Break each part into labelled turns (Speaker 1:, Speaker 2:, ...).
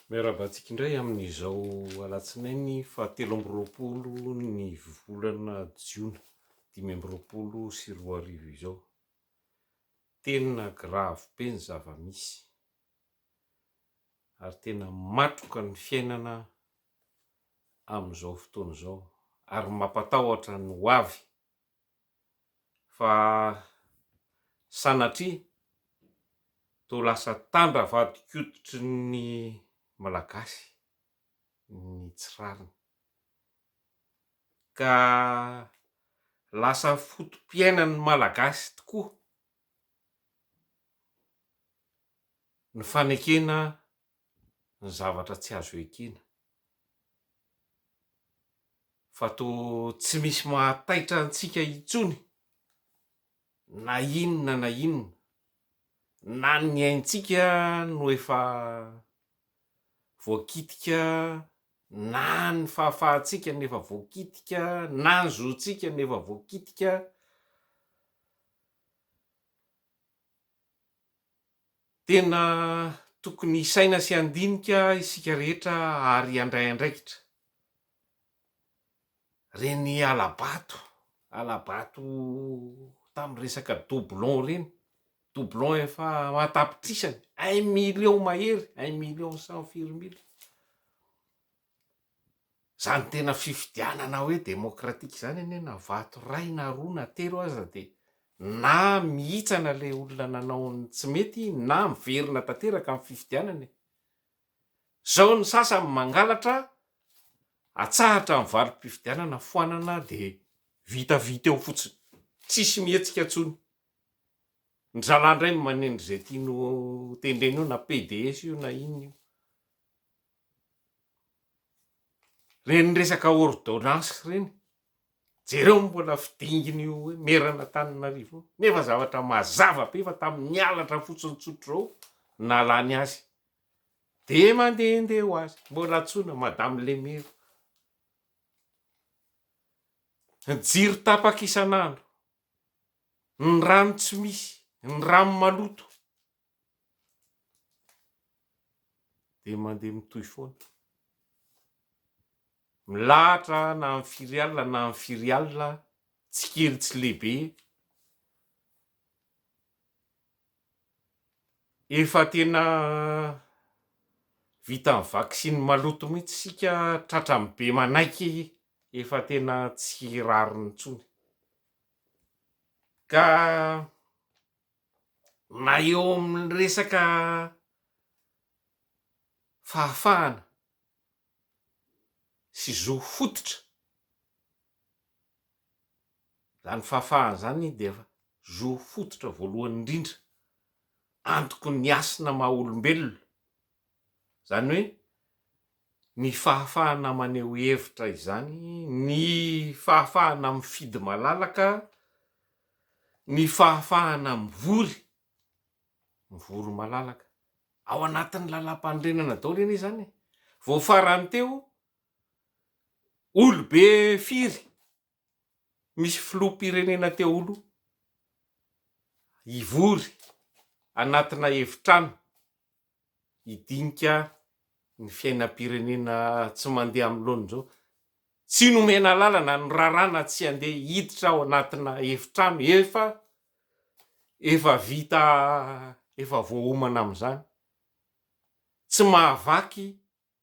Speaker 1: Miarahaba antsika indray amin'izao alatsinainy faha telo amby roapolo ny volana jiona dimy amby roapolo sy roa arivo izao. Tena grave be ny zava-misy ary tena matroka ny fiainana amin'izao fotoana izao ary mampatahotra ny ho avy fa sanatria toa lasa tandra vadin-koditry ny Malagasy ny tsy rariny, ka lasa foto-piainan'ny Malagasy tokoa ny fanekena ny zavatra tsy azo ekena, fa toa tsy misy mahataitra antsika intsony na inona na inona, na ny aintsika no efa voakitika, na ny fahafahantsika no efa voakitika, na ny zontsika no efa voakitika. Tena tokony hisaina sy handinika isika rehetra ary handray andraikitra. Ireny hala-bato, hala-bato tamin'ny resaka doublon ireny, doublon efa an-tapitrisany, un million mahery, un million cent firimbila. Izany tena fifidianana hoe demokratika izany anie na vato iray na roa na telo aza dia na mihitsana ilay olona nanao ny tsy mety na miverina tanteraka amin'ny fifidianana e! Izao ny sasany mangalatra atsahatra ny valim-pifidianana foanana dia vitavita eo fotsiny, tsisy mihetsika intsony. Ny zalahy indray manendry izay tiany ho tendrena eo na PDS io na inona io. Reny resaka ordonnance reny, jereo ny mbola fidingin'io hoe meran'Antananarivo io, nefa zavatra mazava be fa tamin'ny halatra fotsiny tsotra izao no nahalany azy. Dia mandehandeha ho azy, mbola antsoina madame le maire. Ny jiro tapaka isan'andro, ny rano tsy misy, ny rano maloto. dia mandeha mitohy foana. Milahatra na amin'ny firy alina na amin'ny firy alina, tsy kely tsy lehibe. Efa tena vita ny vaksiny maloto mihitsy isika, tratran'ny be manaiky efa tena tsy rariny intsony. Ka. na eo amin'ny resaka fahafahana sy zo fototra, izany fahafahana izany dia zo fototra voalohany indrindra antoky ny hasina maha olombelona, izany hoe. ny fahafahana maneho hevitra izany, ny fahafahana mifidy malalaka, ny fahafahana mivory, mivory malalaka. Ao anatin'ny lalam-panorenana daholo anie izany e! Vao farany teo, olobe firy? misy filoham-pirenena te holo hivory anatina efitrano hidinika ny fiainam-pirenena tsy mandeha amin'ny laoniny izao, tsy nomena alalana, norarana tsy handeha hiditra ao anatina efitrano efa efa vita efa voaomana amin'izany, tsy mahavaky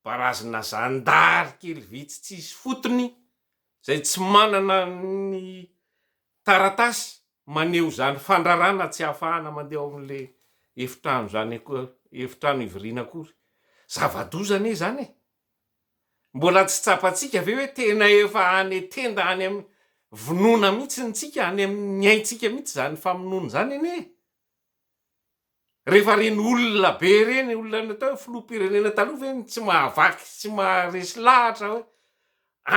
Speaker 1: Barazina zandary kely vitsy tsisy fotony izay tsy manana ny taratasy maneho izany fandrarana tsy ahafahana mandeha ao amin'le efitrano izany efitrano hivoriana akory. Zava-doza anie izany e! Mbola tsy tsapantsika ve hoe tena efa any tenda any amin'ny vinoana mihitsy ny tsika, any amin'ny aintsika mihitsy izany famonoana izany anie e! Rehefa reny olona be reny olona natao hoe filoham-pirenena taloha ve no tsy mahavaky sy tsy maharesy lahatra hoe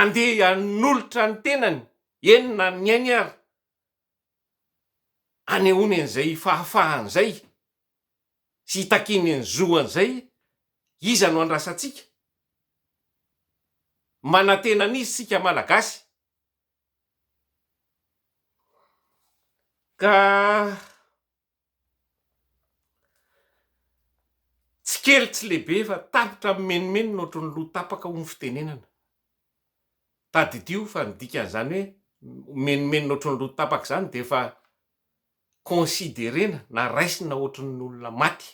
Speaker 1: andeha hanolotra ny tenany eny na ny ainy ary hanehoany an'izay fahafahany izay sy hitakiany ny zoany izay iza no andrasantsika? Manantena an'iza isika Malagasy? Ka. Tsy kely tsy lehibe fa tapitra mimenomenona ohatry ny loha tapaka hoy ny fitenenana. Tadidio fa ny dikan'izany hoe mimenomenona ohatry ny loha tapaka izany dia efa consider-na na raisina ohatry ny olona maty.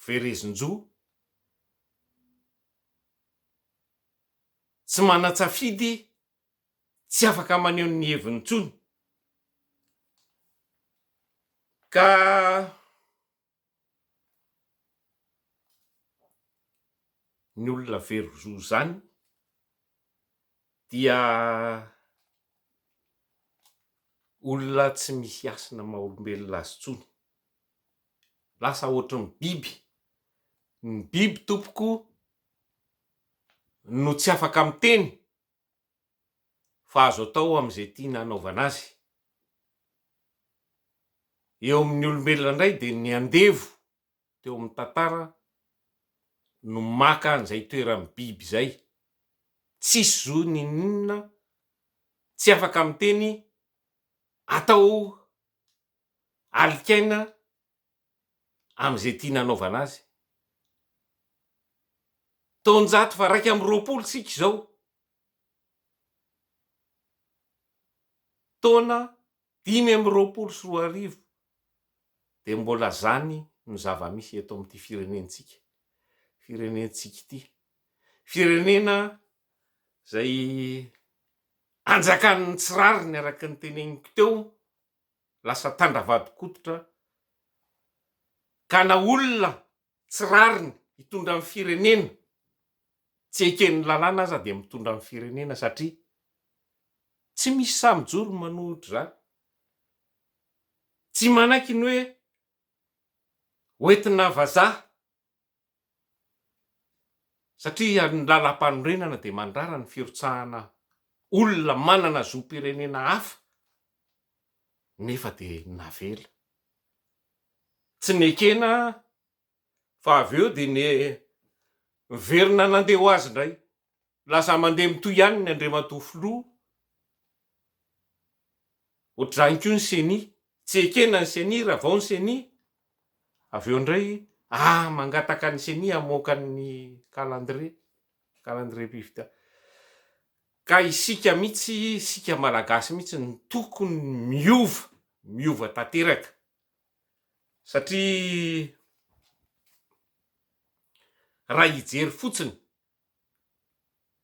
Speaker 1: Verezin-jo tsy manan-tsafidy tsy afaka maneho ny heviny intsony ka ny olona very zo izany dia olona tsy misy hasina maha olombelona azy intsony, lasa ohatry ny biby, ny biby tompoko no tsy afaka miteny fa azo atao amin'izay tiana hanaovana azy. Eo amin'ny olombelona indray dia ny andevo teo amin'ny tantara no maka an'izay toeran'ny biby izay. Tsisy zo n'inon'inona, tsy afaka miteny, atao alikaina amin'izay tiana anaovana azy. Taonjato faharaika amby roapolo isika izao. Taona dimy amby roapolo sy roa arivo dia mbola izany no zava-misy eto amin'ity firenentsika, firenentsika ity. Firenena izay anjakan'ny tsy rariny araka ny teneniko teo. lasa tandravadikototra gana olona tsy rariny hitondra ny firenena tsy eken'ny lalàna aza dia mitondra ny firenena satria tsy misy sahy mijoro ny manohitra izany tsy manaiky ny hoe hoentina vazaha Satria ny Lalàmpanorenana dia mandrara ny firotsahana olona manana zom-pirenena hafa nefa dia navela. Tsy nekena fa avy eo dia niverina nandeha ho azy indray. Milaza mandeha mitohy ihany ny Andriamatoa Filoha, ohatr'izany koa ny Ceni, tsy ekena ny Ceni, ravao ny Ceni, avy eo indray ah mangataka ny Ceni hamoaka ny kalandrie, kalandriempifidianana. Ka isika mihitsy, isika Malagasy mihitsy no tokony miova, miova tanteraka satria raha hijery fotsiny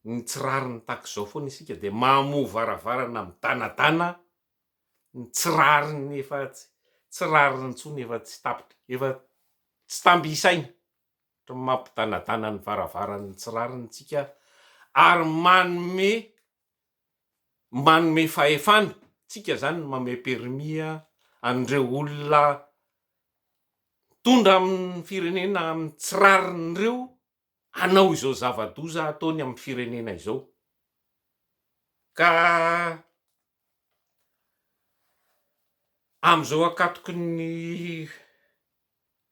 Speaker 1: ny tsy rariny tahaka izao foana isika dia mahamoha varavarana midanadana ny tsy rariny efa tsy rariny intsony efa tsy tapitra efa tsy tamby isaina ohatran'ny mampidanadana ny varavaran'ny tsy rariny isika ary manome manome fahefana tsika izany ny manome permis an'ireo olona mitondra amin'ny firenena amin'ny tsy rariny ireo hanao izao zava-doza ataony amin'ny firenena izao. Ka amin'izao ankatoky ny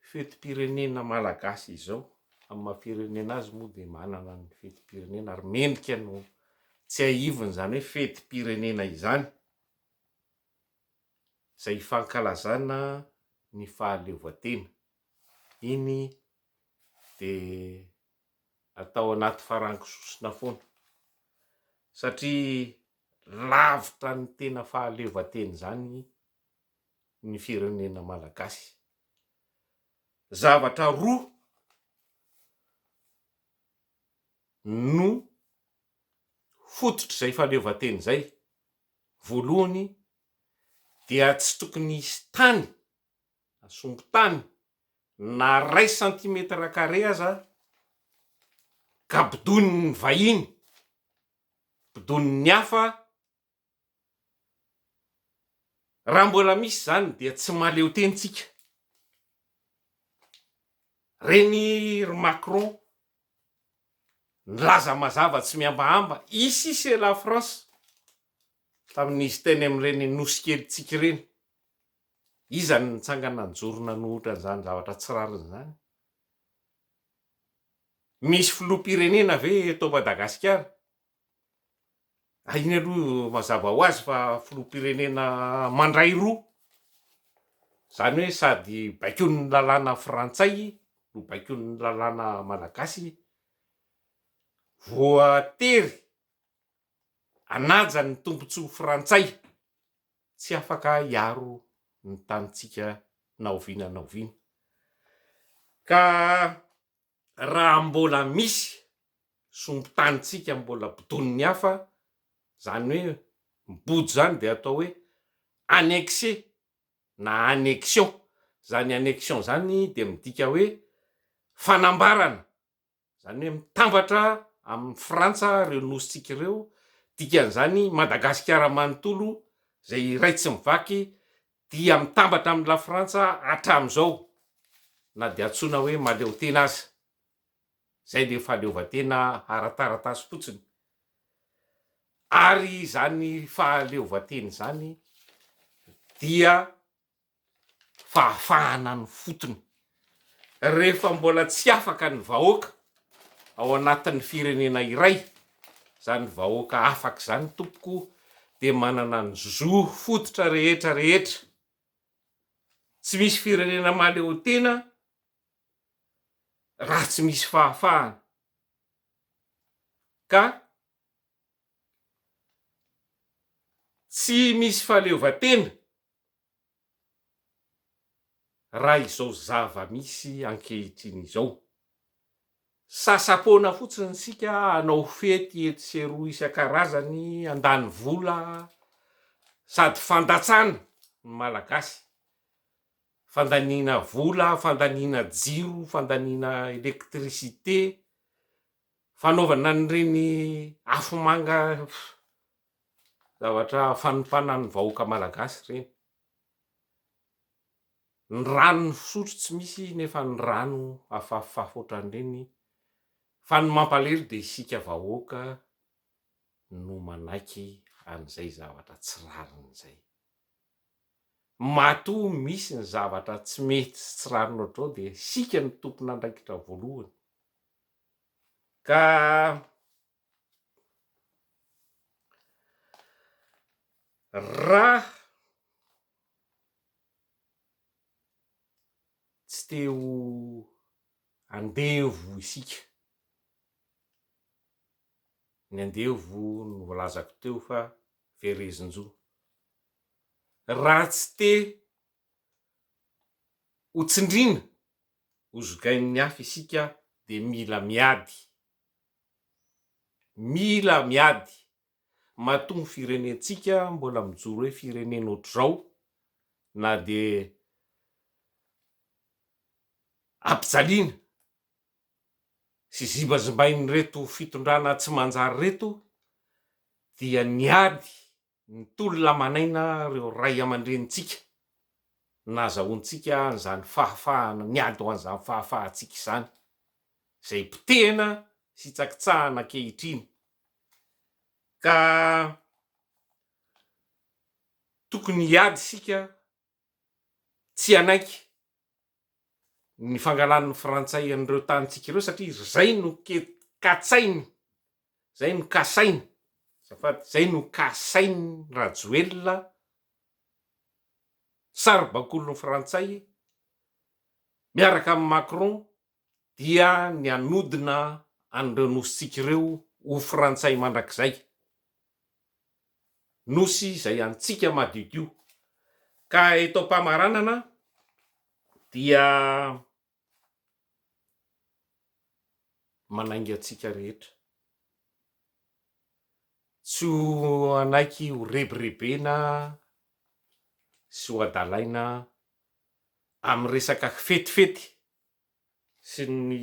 Speaker 1: fetim-pirenena malagasy izao, amin'ny maha firenena azy moa dia manana ny fetim-pirenena ary mendrika no tsiahivina izany hoe fetim-pirenena izany, izay hifankalazana ny fahaleovantena iny dia atao anaty farango sosona foana satria lavitra ny tena fahaleovantena izany ny firenena malagasy. Zavatra roa no fototr'izay fahaleovantena izay, voalohany dia tsy tokony hisy tany Sompitany na iray santimetatra kare aza ka bodoin'ny vahiny, bodoin'ny hafa, raha mbola misy izany dia tsy mahaleo tena isika. Ireny ry Macron nilaza mazava tsy mihambahamba ici c'est la France tamin'izy teny amin'ireny nosy kelintsika ireny. Iza no nitsangana nijoro nanohitra an'izany zavatra tsy rariny izany? Misy filoham-pirenena ve eto Madagasikara? Ary iny aloha mazava ho azy fa filoham-pirenena mandray roa, izany hoe sady baikoin'ny lalàna frantsay no baikoin'ny lalàna malagasy, voatery hanaja ny tombontsoa frantsay. tsy afaka hiaro ny tanintsika na oviana na oviana. Ka raha mbola misy sombin-tanintsika mbola bodonin'ny hafa, izany hoe mibodo izany dia atao hoe annexé na annexion. Izany annexion izany dia midika hoe fanambarana Izany hoe mitambatra amin'i Frantsa ireo nosintsika ireo, dikan'izany Madagasikara manontolo izay iray tsy mivaky dia mitambatra amin'i Lafrantsa hatramin'izao na dia antsoina hoe mahaleotena aza. Izay ilay fahaleovantena ara-taratasy fotsiny. Ary izany fahaleovantena izany dia fahafahana ny fotony rehefa mbola tsy afaka ny vahoaka ao anatin'ny firenena iray zany vahoaka afaka zany tompoko dia manana ny zo fototra rehetra rehetra tsy misy firenena mahaleotena raha tsy misy fahafahana ka tsy misy fahaleovantena raha izao zava-misy ankehitriny izao. Sasa-poana fotsiny isika hanao fety etsy sy eroa isan-karazany, handany vola, sady fandatsana ny Malagasy, fandaniana vola, fandaniana jiro, fandaniana électricité, fanaovana an'ireny afomanga Zavatra fanompana ny vahoaka malagasy ireny. Ny rano fisotro tsy misy nefa ny rano afafafafy ohatran'ireny fa ny mampalelo dia isika vahoaka no manaiky an'izay zavatra tsy rariny izay. Matoa misy ny zavatra tsy mety sy tsy rariny ohatr'izao dia isika no tompon'andraikitra voalohany ka. Raha tsy te ho andevo isika, ny andevo no voalazako teo fa verezin-jo, raha tsy te ho tsindriana, ho zogain'ny hafa isika dia mila miady. Mila miady matoa ny firenentsika mbola mijoro hoe firenena ohatr'izao na dia ampijaliana sy zimbazimbain'ireto fitondrana tsy manjary ireto dia ny ady Ny tolona manaina ireo ray aman-drenintsika nahazahoantsika an'izany fahafahana, niady ho an'izany fahafahantsika izany, izay potehina sy tsakitsahina ankehitriny, ka tokony hiady isika tsy hanaiky ny fangalan'ny frantsay an'ireo tanintsika ireo satria zay no katsainy, zay no kasainy, azafady, zay no kasain'i Rajoelina, saribakolin'ny frantsay miaraka amin'i Macron dia ny hanodina an'ireo nosintsika ireo ho frantsay mandrakizay, nosy izay antsika madiodio, ka eto am-pamaranana dia manainga antsika rehetra tsy ho hanaiky ho rebirebena sy ho adalaina amin'ny resaka fetifety sy ny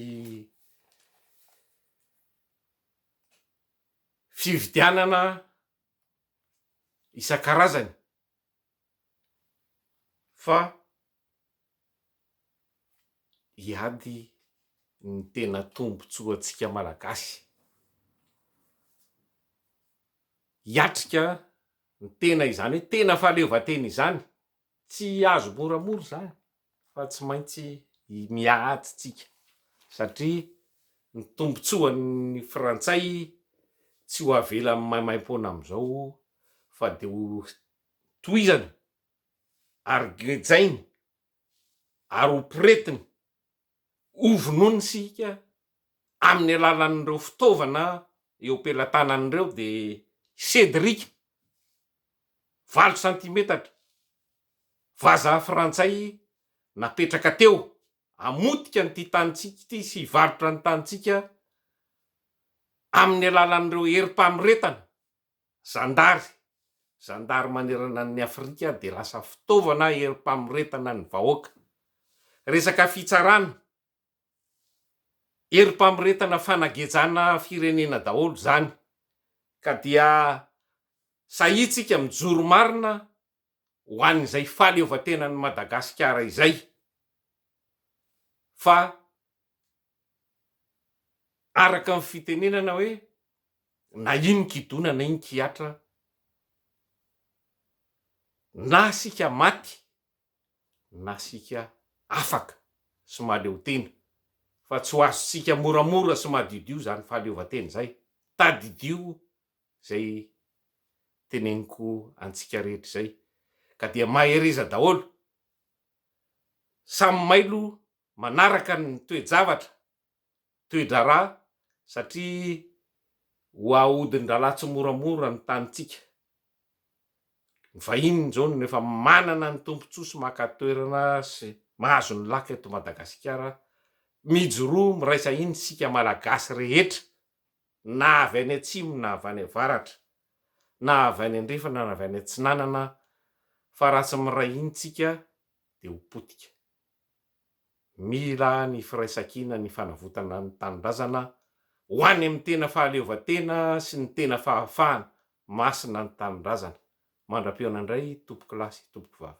Speaker 1: fividianana isan-karazany fa hiady ny tena tombontsoantsika Malagasy, hiatrika ny tena izany hoe tena fahaleovantena izany. Tsy azo moramora izany fa tsy maintsy miady isika satria ny tombotsoan'ny frantsay tsy ho avela maimaimpoana amin'izao fa dia ho tohizany ary gejainy ary ho poretiny. hovonoina isika amin'ny alalan'ireo fitaovana eo am-pelatanany ireo dia Cédric, valo santimetatra, vazaha frantsay napetraka teo hamotika an'ity tanintsika ity sy hivarotra ny tanintsika amin'ny alalan'ireo herim-panoretana. Zandary, Zandary manerana an'i Afrika dia lasa fitaovana herim-pamoretana ny vahoaka. Resaka fitsarana, herim-pamoretana fanagejana firenena daholo izany ka dia sahia tsika mijoro marina ho an'izay fahaleovantenan'i Madagasikara izay fa araka ny fitenenana hoe na iny kidona na iny kihatra na sika maty na sika afaka sy mahaleotena fa tsy ho azontsika moramora sy madiodio izany fahaleovantena izay, tadidio izay teneniko antsika rehetra izay ka dia mahereza daholo, samy mailo manaraka ny toe-javatra, toe-draharaha satria ho ahodin-drahalahy tsimoramora ny tanintsika, ny vahiny izao no efa manana ny tombotsoa sy maka toerana sy mahazo ny laka eto Madagasikara, mijoroa miraisa hina isika Malagasy rehetra na avy any atsimo na avy any avaratra, na avy any andrefana na avy any atsinanana, fa raha tsy miray hiny tsika dia ho potika. Mila ny firaisankina ny fanavotana ny tanindrazana ho any amin'ny tena fahaleovantena sy ny tena fahafahana, masina ny tanindrazana. Mandra-pihaona indray tompokolahy sy tompokovavy.